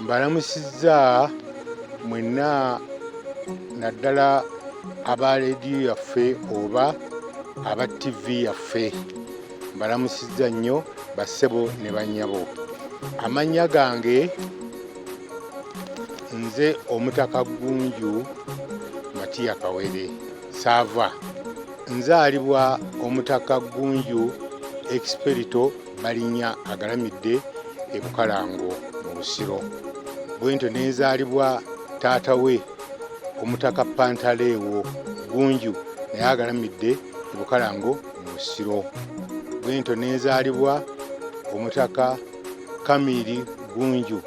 mbalamusizza mwenna naddala aba leediyo yaffe oba aba ttivi yaffe mbalamusizza nnyo bassebo ne bannyabo amannya gange nze omutaka gunju matiya kawere saava nzaalibwa omutaka gunju experito balinya agalamidde e bukalango mu busiro bwentyo nenzaalibwa taata we omutaka pantaleewo gunju naye agalamidde e bukalango mu busiro bwentyo nenzaalibwa omutaka kamiri gunju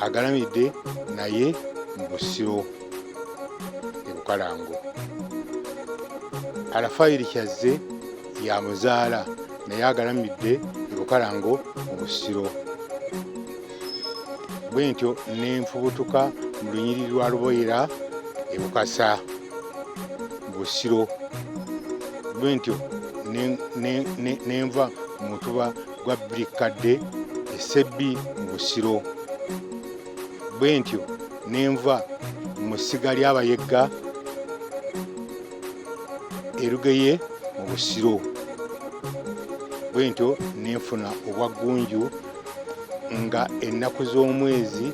agalamidde naye mu busiro e bukalango alafayiri kyazze ya muzaala naye agalamidde ebukalango mu busiro bwe ntyo nenfubutuka mu lunyiri lwa luboyera ebukasa busiro bwe ntyo nenva mu mutuba gwa birikadde esebbi mu busiro bwe ntyo nenva mu ssiga ly'abayegga erugeye mu busiro bwentyo nenfuna obwaggunju nga ennaku z'omwezi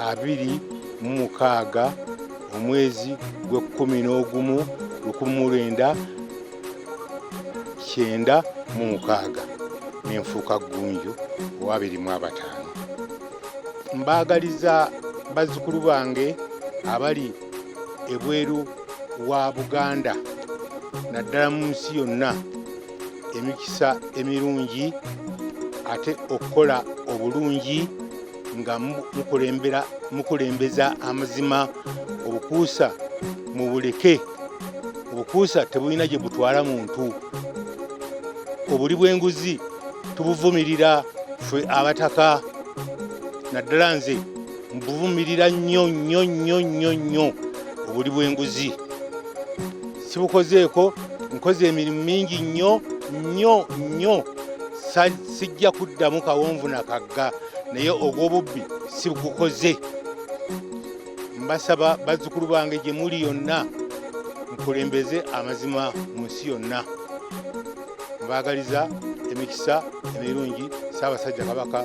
abiri mu mukaaga omwezi gw'ekkumi n'ogumu lukumi mu lwenda kyenda mu mukaaga nenfuuka ggunju owabiri mu abataano mbaagaliza bazzukulu bange abali ebweru wa buganda naddala mu nsi yonna emikisa emirungi ate okukola obulungi nga mukulembeza amazima obukuusa mu buleke obukuusa tebulina gye butwala muntu obuli bw'enguzi tubuvumirira ffe abataka naddala nze mbuvumirira nnyo nnyo nnyo nnyo nnyo obuli bw'enguzi sibukozeeko nkoze emirimu mingi nnyo nnyo nnyo sijja kuddamu kawonvu na kagga naye ogw'obubbi sibugukoze mbasaba bazzukulu bange gye muli yonna mukulembeze amazima mu nsi yonna mbaagaliza emikisa emirungi saabasajja kabaka